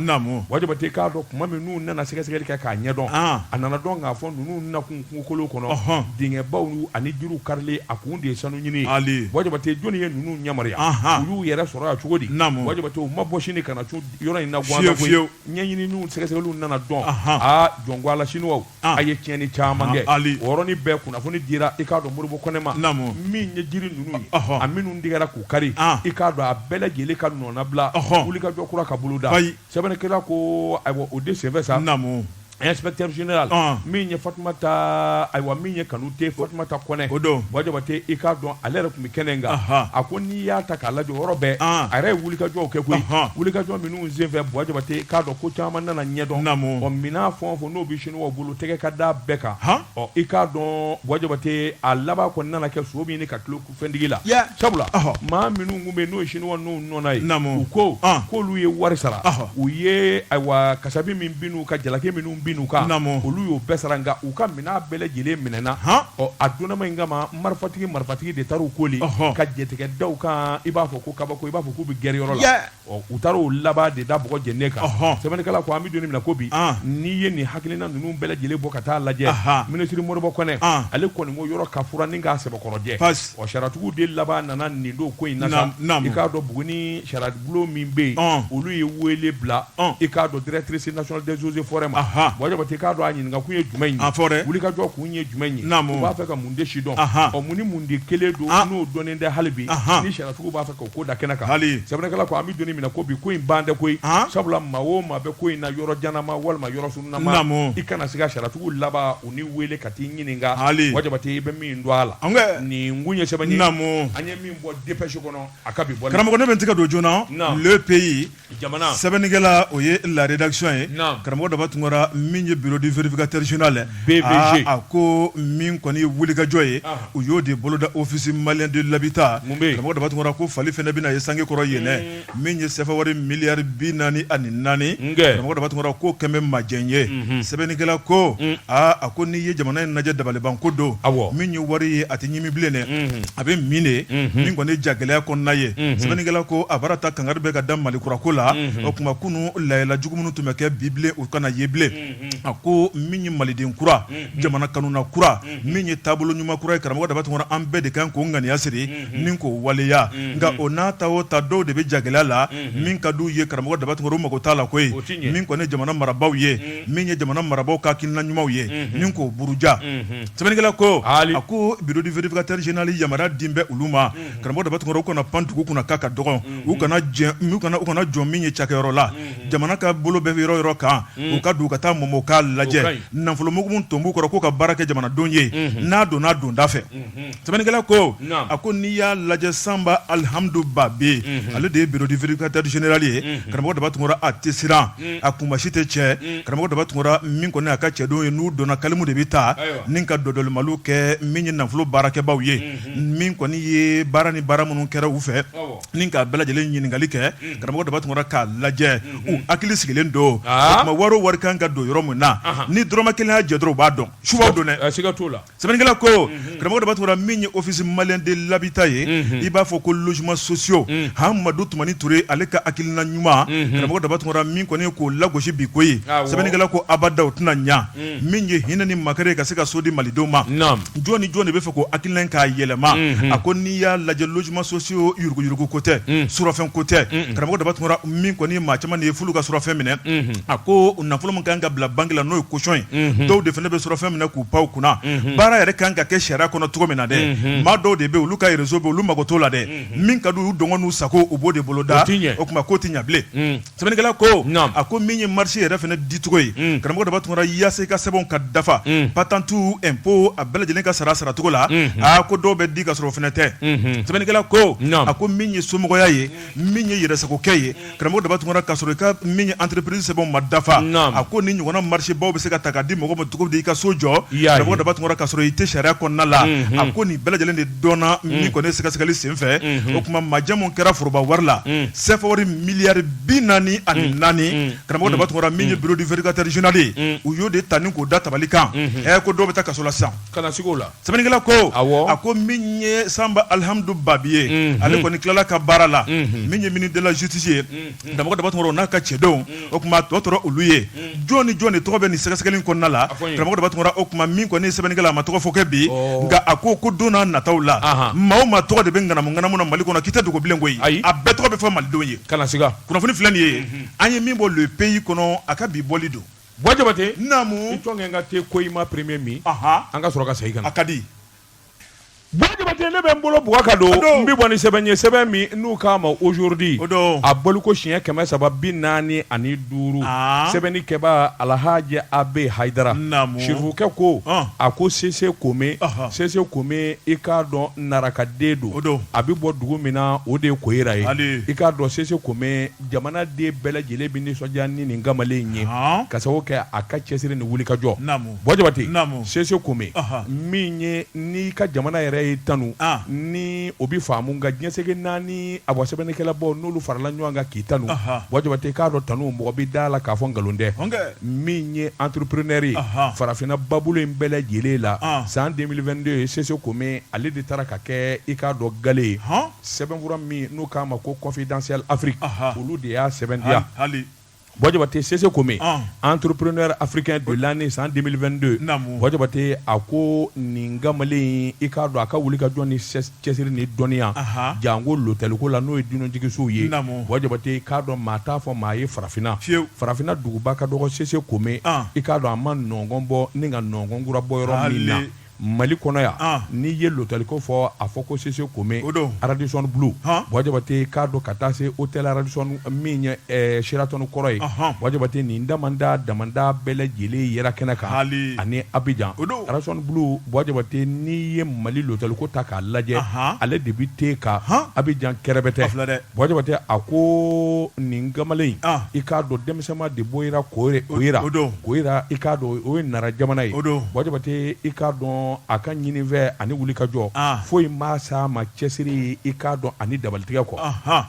wajabate k'a dɔn tuma min n'u nana sɛgɛsɛgɛli kɛ k'a ɲɛdɔn a nana dɔn k'a fɔ ninnu nakun kungokolo kɔnɔ dingɛbaw ani jiriw karilen a kun de ye sanu ɲini wajabate jɔnni ye ninnu yamaruya u y'u yɛrɛ sɔrɔ yan cogo di wajabate u ma bɔ sini ka na yɔrɔ in na ɲɛɲinini sɛgɛsɛgɛli nana dɔn aa jɔn ko a la siniwaw a ye tiɲɛni caman kɛ o yɔrɔnin bɛɛ kunnafoni dira i k'a dɔn moribo kɔnɛ ma min ye jiri ninnu ye a minnu tigɛra k'u kari i k'a dɔn a bɛɛ lajɛlen ka nɔnabila wulikajɔ kura ka boloda sɛbɛnnikɛla ko ayiwa o de senfɛ sa inspecteur général min ye fatumata ayiwa min ye kanute fatumata kɔnɛ o don wajabate i k'a dɔn ale yɛrɛ tun bɛ kɛnɛ kan a ko n'i y'a ta k'a lajɛ yɔrɔ bɛɛ a yɛrɛ ye wulikajɔw kɛ koyi wulikajɔ minnu senfɛ wajabate k'a dɔn ko caman nana ɲɛdɔn ɔ minɛn fɛn o fɛn n'o bɛ siniwaw bolo tɛgɛ ka da bɛɛ kan ɔ i k'a dɔn wajabate a laban kɔni nana kɛ so min ka tulo fɛntigi la sabula maa minnu tun bɛ n'o ye siniwa n'u nɔna ye namu ko k'olu ye wari sara u ye ayiwa kasabi min bin u ka jalaki minnu bin u kan olu y'o bɛɛ sara nka u ka minɛn bɛɛ lajɛlen minɛna ɔ a donnama in kama marifatigi marifatigi de taara u koli ka jatigɛ da u kan i b'a fɔ ko kabako i b'a fɔ k'u bɛ gɛri yɔrɔ la Ɔ u taara u laban de da bɔgɔ jɛnen kan sɛbɛnnikɛla ko an bɛ don min na ko bi n'i ye nin hakilina ninnu bɛɛ lajɛlen bɔ ka taa lajɛ minisiriri moribo kɔnɛ ale kɔni ko yɔrɔ ka furan ni k'a sɛbɛkɔrɔ jɛ ɔ sariyatigiw de laban nana nin don ko in na k'a dɔn buguni sariyabulon min bɛ yen olu ye wele bila i k'a dɔn directrice nationale des eaux et forêts ma wajabate k'a dɔn a ɲininka kun ye jumɛn ye a fɔ wulikajɔ kun ye jumɛn ye u b'a fɛ ka mun de sidɔn ɔ mun ni mun de kɛlen don n'o dɔnnen tɛ hali bi ni sariyatigiw b'a K'o ko da kɛnɛ kan hali sɛbɛnnikɛla ko an bɛ don min na ko bi ko in ban tɛ koyi sabula maa o maa bɛ ko in na yɔrɔ janman walima yɔrɔ surunman i kana siga sariyatigiw laban u n'i weele ka t'i ɲininka hali wajabate i bɛ min dɔn a la an nin kun ye sɛbɛn ye naamu an ye min bɔ dépêche kɔnɔ a ka bi bɔ karamɔgɔ ne bɛ n tɛgɛ don journal le pays jamana sɛbɛnnikɛla o ye la rédaction ye naamu karamɔgɔ Daba Tunkara min ye bureau du vérificateur général ye BVG aa a ko min kɔni ye wulikajɔ ye anhan u y'o de boloda office malien de l'habitat mun bɛ yen karamɔgɔ Daba Tunkara ko fali fɛnɛ bɛna ye sange kɔrɔ yen dɛ uun min ye CFA wari milliard 44 n kɛ karamɔgɔ Daba Tunkara k'o kɛn bɛ majɛn ye unhun sɛbɛnnikɛla ko un aa a ko n'i ye jamana in najɛ dabalibanko don awɔ min ye wari ye a tɛ ɲimi bilen dɛ a bɛ min de ye min kɔni jagɛlɛya kɔnɔna ye sɛbɛnnikɛla ko a baara ta kangari bɛ ka da Malikura ko la o tuma kunun lahala jugu minnu tun bɛ kɛ bilen u kana ye bilen a ko min ye maliden kura jamana kanuna kura min ye taabolo ɲuman kura ye karamɔgɔ Daba Tunkara an bɛɛ de kan k'o ŋaniya siri ni k'o waleya nka o n'a ta o ta dɔw de bɛ jagɛlɛya la min ka d'u ye karamɔgɔ Daba Tunkara u mako t'a la koyi min kɔni ye jamana marabaaw ye min ye jamana marabaaw ka hakilina ɲumanw ye ni k'o buruja Sɛbɛnnikɛla ko haali, a ko bureau du vérificateur général yamaruya dilen bɛ olu ma, unhun, karamɔgɔ Daba Tunkara u kana pan dugu kunna k'a ka dɔgɔn, unhun, u kana jɛ u kana u kana jɔ min ye cakɛyɔrɔ la, unhun, jamana ka bolo bɛ yɔrɔ o yɔrɔ kan, unhun, u ka don u ka taa mɔmɔ u k'a lajɛ, o ka ɲi, nafolomugu ton b'u kɔrɔ k'u ka baara kɛ jamanadenw ye, unhun, n'a donna donda fɛ, unhun, sɛbɛnnikɛla ko, naamu, a ko n'i y'a lajɛ Sanba Alihamudu Babi, unhun, ale de ye bureau du vérificateur général ye, unhun, karamɔgɔ Daba Tunkara a tɛ siran a kunmasi tɛ cɛ karamɔgɔ Daba Tunkara min kɔni a ka cɛdenw ye n'u donna kalimu de bɛ ta ni ka dɔdɔlimali kɛ min ye nafolo baarakɛbaaw ye min kɔni ye baara ni baara minnu kɛra u fɛ ni k'a bɛɛ lajɛlen ɲininkakali kɛ karamɔgɔ Daba Tunkara k'a lajɛ u hakili sigilen don o tuma wari o wari kan ka don yɔrɔ min na ni dɔrɔmɛ kelen y'a jɛ dɔrɔn u b'a dɔn subaw don dɛ Sɛbɛnnikɛla ko karamɔgɔ Daba Tunkara min ye office malien de l'habitat ye i b'a fɔ ko logements sociaux Amadu Tumani Ture ale ka hakilina ɲuman karamɔgɔ Daba Tunkara min kɔni k'o lagosi bi koyi sɛbɛnnikɛla ko abada o tɛna ɲɛ min ye hinɛ ni makari ka se ka so di malidenw ma jɔn ni jɔn de bɛ fɛ k'o hakilina k'a yɛlɛma a ko n'i y'a lajɛ logements sociaux yuruguyuruguko tɛ surafɛn ko tɛ karamɔgɔ Daba Tunkara min kɔni maa caman de ye f'olu ka surafɛn minɛ a ko nafolo min kan ka bila banque la n'o ye caution ye dɔw de fana bɛ surafɛn minɛ k'u pan u kunna baara yɛrɛ kan ka kɛ sariya kɔnɔ cogo min na dɛ maa dɔw de bɛ olu ka réseau bɛ olu mago t'o la dɛ min ka d'u ye u dɔngɔ n'u sago u b'o de bolo da o tuma k'o tɛ ɲɛ bilen sɛbɛnnikɛla ko a ko min ye marché yɛrɛ fana dicogo ye karamɔgɔ Daba Tunkara yaasa i ka sɛbɛnw ka dafa patente impôt a bɛɛ lajɛlen ka sara a saracogo la aa ko dɔw bɛ di ka sɔrɔ o fana tɛ sɛbɛnnikɛla ko a ko min ye somɔgɔya ye min ye yɛrɛsagokɛ ye karamɔgɔ Daba Tunkara ka sɔrɔ i ka min ye entreprise sɛbɛn ma dafa a ko ni ɲɔgɔnna marché baw bɛ se ka ta ka di mɔgɔ ma cogo di i ka so jɔ karamɔgɔ Daba Tunkara ka sɔrɔ i tɛ sariya kɔnɔna la a ko nin bɛɛ lajɛlen de dɔnna min kɔni ye sɛgɛsɛgɛli senfɛ o tuma majɛ min kɛra foroba wari la sɛfawari miliyari bi naani ani naani karamɔgɔ Daba Tunkara min ye bureau du vérificateur général ye u y'o de ta ni k'o da tabali kan ɛ ko dɔw bɛ taa kaso la sisan kana siga a la sɛbɛnnikɛla ko awɔ a ko min ye sanba alihamdu babi ye Mhm. ale kɔni tilala a ka baara la Mhm. min ye ministre de la justice ye karamɔgɔ daba tunkara n'a ka cɛdenw o kuma tɔ tora olu ye jɔn ni jɔn de tɔgɔ bɛ nin sɛgɛsɛgɛli in kɔnɔna la fɔ n ye. karamɔgɔ daba tunkara o kuma min kɔni ye sɛbɛnnikɛla a ma tɔgɔ fɔ kɛ bi Ɔ. nka a ko ko don n'a nataw la Ahan. maa o maa tɔgɔ de bɛ ŋanamu ŋanamu na mali kɔnɔ k'i tɛ dogo bilen koyi Ayi. a bɛɛ tɔgɔ bɛ fɔ malidenw ye kana siga kunnafoni filɛ nin ye an ye min bɔ le pays kɔnɔ a ka bi bɔli don Buwa jabate naamu jɔ kɛ n ka te ko i ma premier min an ka sɔrɔ ka segin ka na a ka di buwa jabate ne bɛ n bolo bugu ka don n bɛ bɔ ni sɛbɛn ye sɛbɛn min n'u k'a ma aujourd'hui a bɔliko siɲɛ kɛmɛ saba bi naani ani duuru sɛbɛnnikɛbaa alahaji a b hayidara sirifukɛ ko a ko sese kome sese kome i k'a dɔn narakaden don a bɛ bɔ dugu min na o de ye koyira ye i k'a dɔn sese kome jamanaden bɛɛ lajɛlen bɛ nisɔndiya ni nin kamalen in ye ka sababu kɛ a ka cɛsiri ni wulikajɔ buwa jabate sese kome min ye n'i ka jamana yɛrɛ y'i tanu ni o bɛ faamu nka diɲɛ seleke naani awɔ sɛbɛnnikɛlabaw n'olu farala ɲɔgɔn kan k'i tanu buwa jabate i k'a dɔn tanu mɔgɔ bɛ d'a la k'a fɔ nkalon tɛ min ye entrepreneur ye farafinna babolo in bɛɛ lajɛlen la san 2022 ye sese kome ale de taara ka kɛ i k'a dɔn gale ye Sɛbɛnfura min n'u k'a ma ko confidentiel afrique olu de y'a sɛbɛntiya hali buwa jabate sese kome entrepreneur africain de l'année san 2022 buwa jabate a ko nin kamalen i k'a dɔn a ka wulikajɔ ni cɛsiri ni dɔnniya janko lotɛliko la n'o ye dunanjiginso ye naamu buwa jabate i k'a dɔn maa t'a fɔ maa ye farafinna farafinna duguba ka dɔgɔ sese kome i k'a dɔn a ma nɔgɔn bɔ ni ka nɔgɔn kura bɔ yɔrɔ min na Mali kɔnɔ yan n'i ye lotɛliko fɔ a fɔ ko sese kome o don radisson blu buwa jabate i k'a dɔn ka taa se hôtel radisson min ye sheraton kɔrɔ ye buwa jabate nin dama dama bɛɛ lajɛlen yera kɛnɛ kan hali ani abijan o don radisson blu buwa jabate n'i ye mali lotɛliko ta k'a lajɛ ale de bɛ ten kan abijan kɛrɛbɛtɛ fila dɛ Buwa jabate a ko nin kamalen i k'a dɔn denmisɛnma de bɔra koyira koyira i k'a dɔn o ye nara jamana ye o don buwa jabate i k'a dɔn a ka ɲini fɛ ani wulikajɔ foyi m'a sama cɛsiri i k'a dɔn ani dabalitigɛ kɔ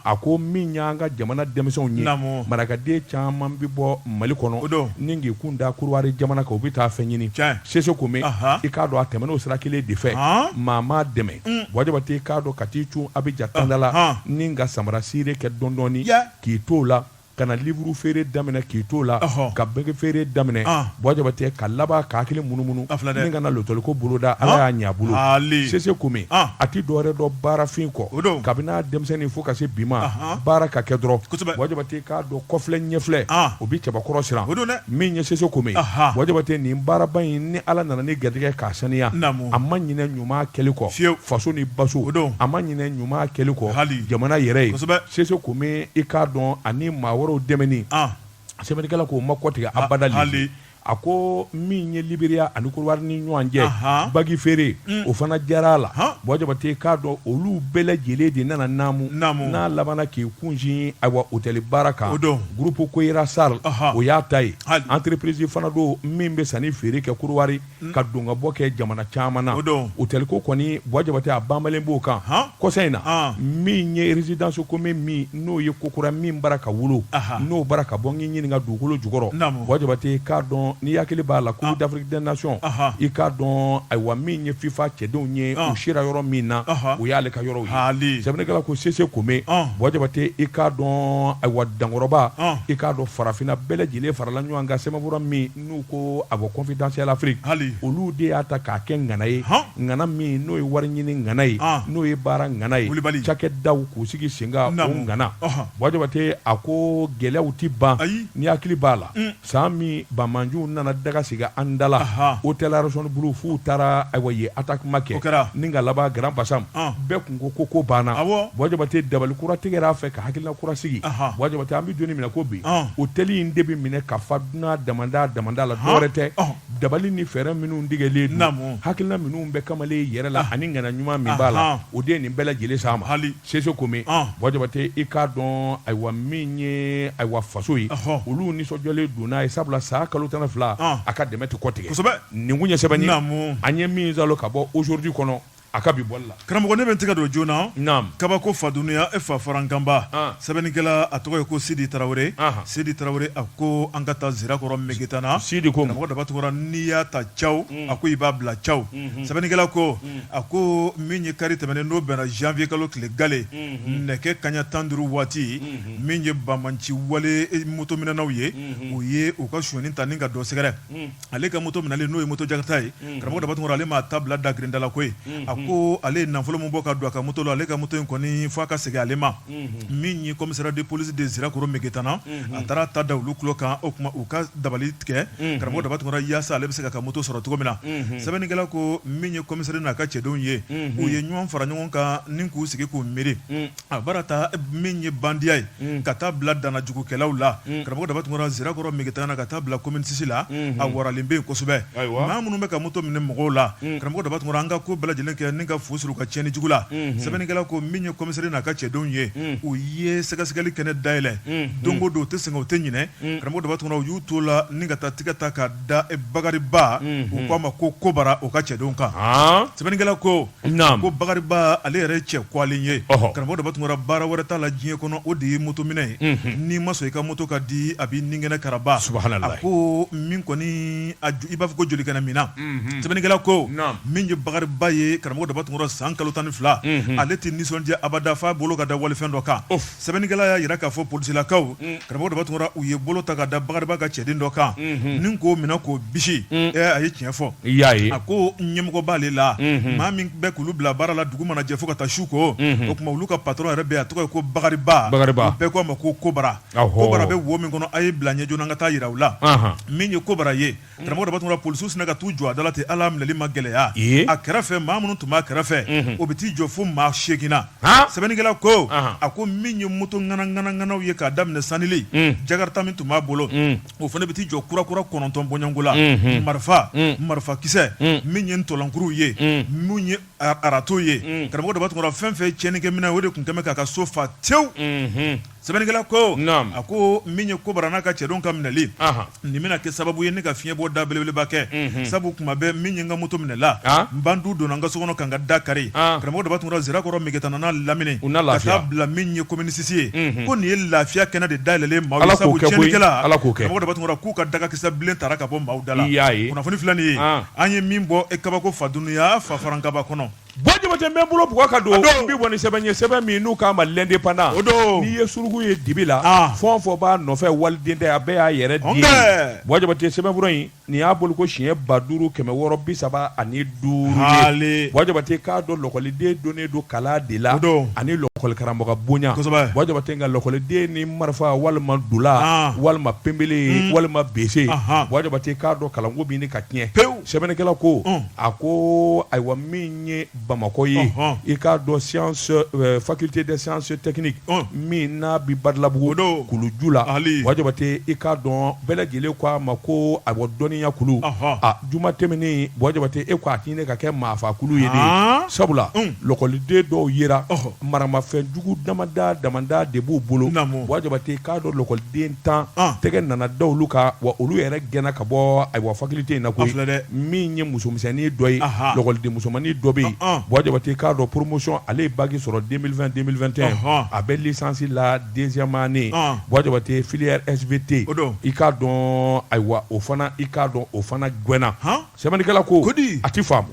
a ko min y'an ka jamana denmisɛnw ye naamu marakaden caman bɛ bɔ mali kɔnɔ o don ni k'i kun da kɔdiwari jamana kan u bɛ taa fɛn ɲini sese kome i k'a dɔn a tɛmɛn'o sira kelen de fɛ maa m'a dɛmɛ mm. buwa jabate i k'a dɔn ka t'i cun abijan tanda la ni ka samara sire kɛ dɔɔnin dɔɔnin k'i t'o la ka na liburu feere daminɛ k'i t'o la ka bagi feere daminɛ buwa jabate ka laban ka hakili munumunu ni ka na lotɛliko boloda ala y'a ɲɛ a bolo sese kome a tɛ dɔwɛrɛ dɔn baarafin kɔ kabini a denmisɛnnin fo ka se bi ma baara ka kɛ dɔrɔn K'a dɔn kɔfilɛ ɲɛfilɛ o bɛ cɛbakɔrɔ siran o don dɛ min ye sese kome bɔ jabate nin baaraba in ni ala nana ni garijɛgɛ k'a saniya a ma ɲinɛ ɲuman kɛli kɔ fiye faso ni baso o don a ma ɲinɛ ɲuman kɛli kɔ hali jamana yɛrɛ ye sese kome i k'a dɔn ani maa wɛrɛw dɛmɛni sɛbɛnnikɛla k'o ma kɔtigɛ abada a ko min ye liberia ani kɔrɔwari ni ɲɔgɔn cɛ bagi feere mm. o fana diyara a la bɔ jabate k'a dɔn olu bɛɛ lajɛlen de nana naamu n'a labanana k'i kunsin ayiwa hôtel baara kan o don groupe koira sarl o y'a ta ye entreprise fana don min bɛ sanni feere kɛ kɔrɔwari mm. ka don ka bɔ kɛ jamana caman na o don hôtel ko kɔni bɔ jabate a banbalen b'o kan kɔsa in na min ye résidence kome min n'o ye ko kura min bara ka wolo n'o bara ka bɔ n'i ɲininka dugukolo jukɔrɔ bɔ jabate i k'a dɔn n'i hakili b'a la coupe d'afrique des nations i k'a dɔn ayiwa min ye fifa cɛdenw ye u sira yɔrɔ min na o y'ale ka yɔrɔ ye sɛbɛnnikɛla ko sese kome bɔ jabate i k'a dɔn ayiwa dankɔrɔba i k'a dɔn farafinna bɛɛ lajɛlen farala ɲɔgɔn kan sɛbɛnfura min n'u ko ayiwa confidentiel afrique hali olu de y'a ta k'a kɛ ŋana ye ŋana min n'o ye wari ɲini ŋana ye n'o ye baara ŋana ye kulubali cakɛdaw k'u sigi senkan o ŋana bɔ jabate a ko gɛlɛyaw tɛ ban n'i hakili b'a la san min banbaanciw nana daga sigi an dala hôtel radisson blu f'u taara ayiwa ye attaquement kɛ kɛra ni ka laban grand bassam bɛɛ tun ko ko ko banna bɔ jabate dabali kura tigɛra a fɛ ka hakilila kura sigi bɔ jabate an bɛ don min na ko bi hôtel in de bɛ minɛ ka n'a dama dama la dɔwɛrɛ tɛ dabali ni fɛɛrɛ minnu tigɛlen don hakilila minnu bɛ kamalen yɛrɛ la ani ŋaniya ɲuman min b'a la o de ye nin bɛɛ lajɛlen sama hali sese kome bɔ jabate i k'a dɔn ayiwa min ye ayiwa faso ye olu nisɔndiyalen don n'a ye sabula san kalo tan fila a ka dɛmɛ tɛ kɔtigɛ nin kun ye sɛbɛnni an ye min ka bɔ aujourd'hui kɔnɔ A ka bi bɔli la karamɔgɔ ne bɛ n tɛgɛ don joona na kabako fa duniɲa e fa farankanba sɛbɛnnikɛla a tɔgɔ ye ko sidi tarawele sidi tarawele a ko an ka taa sirakɔrɔ megetana sidi ko karamɔgɔ daba tunkara n'i y'a ta caw a ko i b'a bila caw sɛbɛnnikɛla ko a ko min ye kari tɛmɛnen n'o bɛnna janvier kalo tile gale nɛgɛ kaɲa tan duuru waati min ye banbaanci wale moto minɛnaw ye u ye u ka sonyani ta ni ka dɔ sɛgɛrɛ ale ka moto minɛlen n'o ye moto jakarta ye mm. karamɔgɔ daba tunkara ale m'a ta bila da grindala koyi mm-hmm. a ko ale ye nafolo min bɔ ka don a ka moto la ale ka moto in kɔni fo a ka segin ale ma mm-hmm. min ye commissariat de police de zirakoro megetana mm-hmm. a taara a ta da olu tulo kan o tuma u ka dabali tigɛ karamɔgɔ daba tunkara yaasa ale bɛ se k'a ka moto sɔrɔ cogo min na sɛbɛnnikɛla ko min ye commissariat n'a ka cɛdenw ye u ye ɲɔgɔn fara ɲɔgɔn kan ni k'u sigi k'u miiri A bara ta min ye bandiya ye ka taa bila dannajugukɛlaw la karamɔgɔ daba tunkara sirakɔrɔ mɛgɛtana ka taa bila kɔmini sisi la a waralen bɛ yen kosɛbɛ maa minnu bɛ ka moto minɛ mɔgɔw la karamɔgɔ daba tunkara an ka ko bɛɛ lajɛlen kɛ ni ka fu siri u ka cɛnni jugu la sɛbɛnnikɛla ko min ye komisɛri n'a ka cɛdenw ye u ye sɛgɛsɛgɛli kɛnɛ dayɛlɛn don o don u tɛ sɛgɛn u tɛ ɲinɛ karamɔgɔ daba tunkara u y'u t'o la ni ka taa tɛgɛ ta ka da bakariba u k'a ma ko kobara o ka cɛdenw kan sɛbɛnnikɛla ko ko bakariba ale yɛrɛ cɛ kɔgɔlen ye karamɔgɔ daba tunkara baara wɛrɛ t'a la diɲɛ kɔnɔ o de ye moto minɛ ye n'i ma sɔn i ka moto ka di a b'i nin kɛnɛ karaba a ko min kɔni i b'a fɔ ko joli kɛnɛ minna sɛbɛnnikɛla ko min ye bakariba ye karamɔgɔ daba tunkara san kalo tan ni fila ale tɛ nisɔndiya abada f' a bolo ka da walifɛn dɔ kan sɛbɛnnikɛla y'a jira k'a fɔ polisilakaw mm. karamɔgɔ daba tunkara u ye bolo ta ka da bakariba ka cɛden dɔ kan mm-hmm. ni k'o minɛ k'o bisi mm. a ye tiɲɛ fɔ a ko ɲɛmɔgɔ b'ale la mm-hmm. maa min bɛ k'olu bila baara la dugu mana jɛ fo ka taa su ko mm-hmm. o tuma olu ka patɔrɔn yɛrɛ bɛ a tɔgɔ ye ko bakariba bɛɛ ko a ma ko kobara kobara bɛ wo min kɔnɔ a ye bila ɲɛ joona an ka taa jira aw la min ye kobara ye karamɔgɔ daba tunkara polisiw sinna ka t'u jɔ a da la ten hali a minɛli ma gɛlɛya, ee, a kɛrɛfɛ maa minnu tun b'a kɛrɛfɛ, unhun, o bɛ t'i jɔ fo maa seegin na, han, sɛbɛnnikɛla ko, anhan, a ko min ye moto ŋana ŋana ŋanaw ye k'a daminɛ sanili, un, jakarita min tun b'a bolo, un, o fana bɛ t'i jɔ kura kura kɔnɔntɔn bɔɲɔgɔnko la, unhun, marifa, un, marifakisɛ, un, min ye ntɔlankuruw ye, un, min ye Arato ye karamɔgɔ daba tunkara fɛn fɛn cɛnnikɛminɛn o de tun kɛlen bɛ k'a ka so fa tewu sɛbɛnnikɛla ko a ko min ye kobara n'a ka cɛdenw ka minɛli nin bɛna kɛ sababu ye ne ka fiɲɛbɔda belebeleba kɛ sabu tuma bɛɛ min ye n ka moto minɛla bandiw donna n ka so kɔnɔ ka n ka da kari karamɔgɔ daba tunkara sirakɔrɔ mɛgɛtana n'a lamini ka taa bila min ye kɔmini sisi ye ko nin ye lafiya kɛnɛ de dayɛlɛnlen ma k'u ka dagakisɛ bilen tara ka bɔ maaw da la kunnafoni filɛ nin ye An ye min bɔ e kabako fa dunuya fa faran kaba kɔnɔ buwa jabate n bɛ bolo bugɔ ka don n bɛ bɔ ni sɛbɛn ye sɛbɛn min n'u k'a ma lɛndepandan n'i ye suruku ye dibi la fɛn fɛn b'a nɔfɛ waliden tɛ a bɛɛ y'a yɛrɛ den buwa jabate sɛbɛnfura in nin y'a bolo ko siɲɛ ba duuru kɛmɛ wɔɔrɔ bi saba ani duuru ye buwa jabate k'a dɔn lɔkɔliden dɔnnen don kala de la ani lɔkɔlikaramɔgɔ bonya buwa jabate nka lɔkɔliden ni marifa walima dula walima penbele walima bese buwa jabate k'a dɔn kalanko ka tiɲɛ pewu sɛbɛnnikɛla ko a ko ayiwa min ye bamakɔ ye i k'a dɔn sciences faculté des sciences techniques min n'a bi badalabugu kuluju la buwa jabate i k'a dɔn bɛɛ lajɛlen ko a ma ko a dɔnniya kulu juma tɛmɛnen buwa jabate e ko a bɛ ɲini ka kɛ maafaa kulu ye de sabula lɔkɔliden dɔw yera maramafɛn jugu damadɔ damadɔ de b'u bolo buwa jabate i k'a dɔn lɔkɔliden tan tɛgɛ nana da olu kan wa olu yɛrɛ gɛnna ka bɔ ayiwa faculté in na koyi min ye musomisɛnnin dɔ ye lakɔliden musomannin dɔ bɛ yen Buwa Jabate k'a dɔn promotion ale ye baki sɔrɔ deux mille vingt deux mille vingt et un a bɛ licence la deuxième année Buwa Jabate filière SVT i k'a dɔn ayiwa o fana i k'a dɔn o fana gɛnna sɛbɛnnikɛla ko a tɛ faamu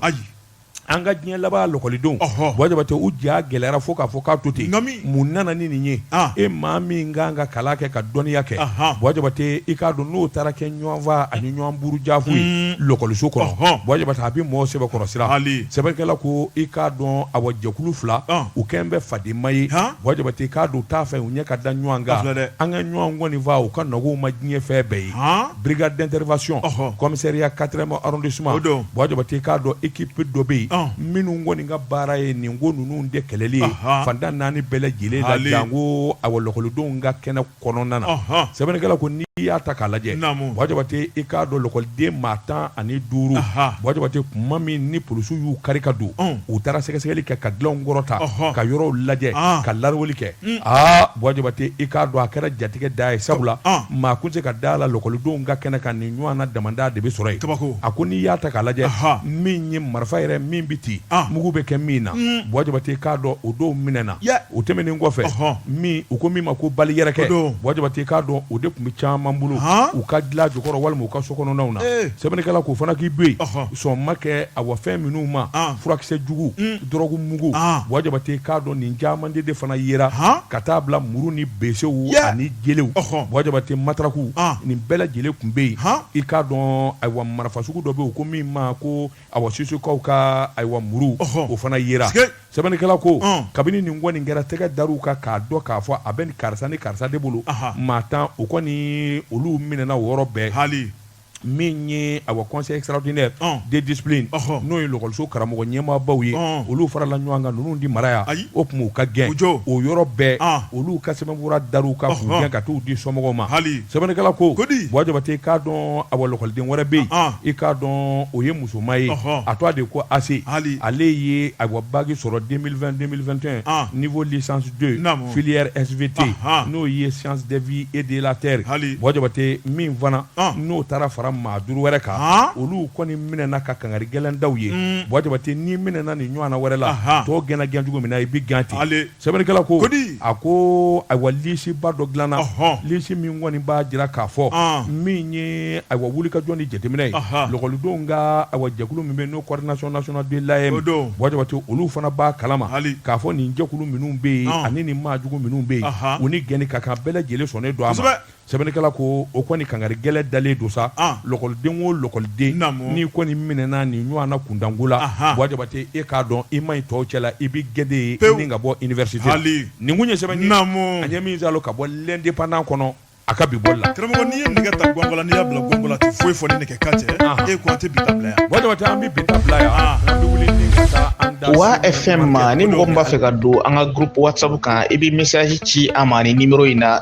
An ka diɲɛ laban lakɔlidenw Buwa Jabate u ja gɛlɛyara fo k'a fɔ k'a to ten mun nana ni nin ye e maa min kan ka kalan kɛ ka dɔnniya kɛ Buwa Jabate i k'a dɔn n'o taara kɛ ɲɔgɔnfaa ani ɲɔgɔn burujafu ye lakɔliso kɔnɔ Buwa Jabate a bɛ mɔgɔ sɛbɛkɔrɔ siran sɛbɛnnikɛla ko i k'a dɔn a jɛkulu fila u kɛlen bɛ fadenma ye Buwa Jabate k'a dɔn t'a fɛ u ɲɛ ka da ɲɔgɔn kan nka ɲɔgɔn kɔni faa o ka nɔgɔ u ma diɲɛ fɛn bɛɛ ye brigade d'intervention commissariat quatrième arrondissement Buwa Jabate i k'a dɔn équipe dɔ bɛ yen minnu kɔni ka baara ye nin ko ninnu de kɛlɛli ye fan tan ni naani bɛɛ lajɛlen la janko a lakɔlidenw ka kɛnɛ kɔnɔna na sɛbɛnnikɛla ko n'i y'a ta k'a lajɛ Buwa Jabate i k'a dɔn lakɔliden maa tan ani duuru Buwa Jabate tuma min ni polisiw y'u kari ka don u taara sɛgɛsɛgɛli kɛ ka dilanw kɔrɔta ka yɔrɔw lajɛ ka lawuli kɛ aa Buwa Jabate i k'a dɔn a kɛra jatigɛ da ye sabula maa tun tɛ se ka da a la lakɔlidenw ka kɛnɛ kan nin ɲɔgɔnna damanda de bɛ sɔrɔ yen, kabako, a ko n'i y'a ta k'a lajɛ min ye marifa yɛrɛ min bɛ ci mugu bɛ kɛ min na Buwa Jabate i k'a dɔn o dɔw minɛna o tɛmɛnen kɔfɛ min u ko min ma ko bali yɛrɛkɛ Buwa Jabate i k'a dɔn o de tun bɛ caman bolo u ka dilan jukɔrɔ walima u ka sokɔnɔnaw na sɛbɛnnikɛla ko o fana k'i to yen sɔn ma kɛ awa fɛn minnu ma furakisɛ jugu dɔrɔgu mugu Buwa Jabate k'a dɔn nin caman de fana yera ka taa bila muru ni besew ani jelew Buwa Jabate mataraku nin bɛɛ lajɛlen tun bɛ yen i k'a dɔn ayiwa marifa sugu dɔ bɛ yen ko min ma ko a susukaw ka ayiwa muru o fana yera sɛbɛnnikɛla ko kabini nin kɔni kɛra tɛgɛ dara u kan k'a dɔn k'a fɔ a bɛ nin karisa ni karisa de bolo maa tan o kɔni olu minɛna o yɔrɔ bɛɛ hali min ye awa conseil extraordinaire de discipline n'o ye lakɔliso karamɔgɔ ɲɛmaabaw ye olu farala ɲɔgɔn kan ninnu tɛ mara yan ayi o tuma u ka gɛn o yɔrɔ bɛɛ olu ka sɛbɛnfura dara u kan k'u gɛn ka taa u di somɔgɔw ma hali sɛbɛnnikɛla ko kodi Buwa Jabate k'a dɔn a lakɔliden wɛrɛ bɛ yen i k'a dɔn o ye musoman ye a tɔgɔ de ko Ase hali ale ye a baki sɔrɔ deux mille vingt deux mille vingt et un niveau licence deux filière SVT n'o ye sciences de vie et de la terre hali Buwa Jabate min fana n'o taara fara maa duuru wɛrɛ kan olu kɔni minɛna ka kangari gɛlɛn da u ye Buwa Jabate n'i minɛna nin ɲɔgɔnna wɛrɛ la tɔw gɛnna gɛn cogo min na i bɛ gɛn ten sɛbɛnnikɛla ko a ko ayiwa lisiba dɔ dilanna lisi min kɔni b'a jira k'a fɔ min ye ayiwa wulikajɔ ni jateminɛ ye lakɔlidenw ka ayiwa jɛkulu min bɛ n'o coordination nationale de l'AEEM Buwa Jabate olu fana b'a kalama k'a fɔ nin jɛkulu minnu bɛ yen ani nin maajugu minnu bɛ yen u ni gɛnni ka kan bɛɛ lajɛlen sɔnnen don a sɛbɛnnikɛla ko o kɔni kankari gɛlɛn dalen don sa ah. lɔkɔliden o lɔkɔliden n'i kɔni minɛna nin ɲɔgɔnna kuntanko la Buwa Jabate e k'a dɔn i ma ɲi tɔw cɛla i bɛ gɛn de ye i ni ka bɔ université nin kun ye sɛbɛn ye an ye min sɔrɔ ka bɔ l'indépendant kɔnɔ a ka bi bɔli la karamɔgɔ n'i ye nɛgɛ ta gɔngɔn la n'i y'a bila gɔngɔn la a tɛ foyi fɔ ni nɛgɛ kan tɛ e ko an tɛ bi ta bila yan Buwa Jabate an bɛ bi ta bila yan ah. an bɛ wuli ni ka taa an da Wa FM ma ni mɔgɔ min b'a fɛ ka don an ka groupe WhatsApp kan i bɛ message ci an ma ni numéro in na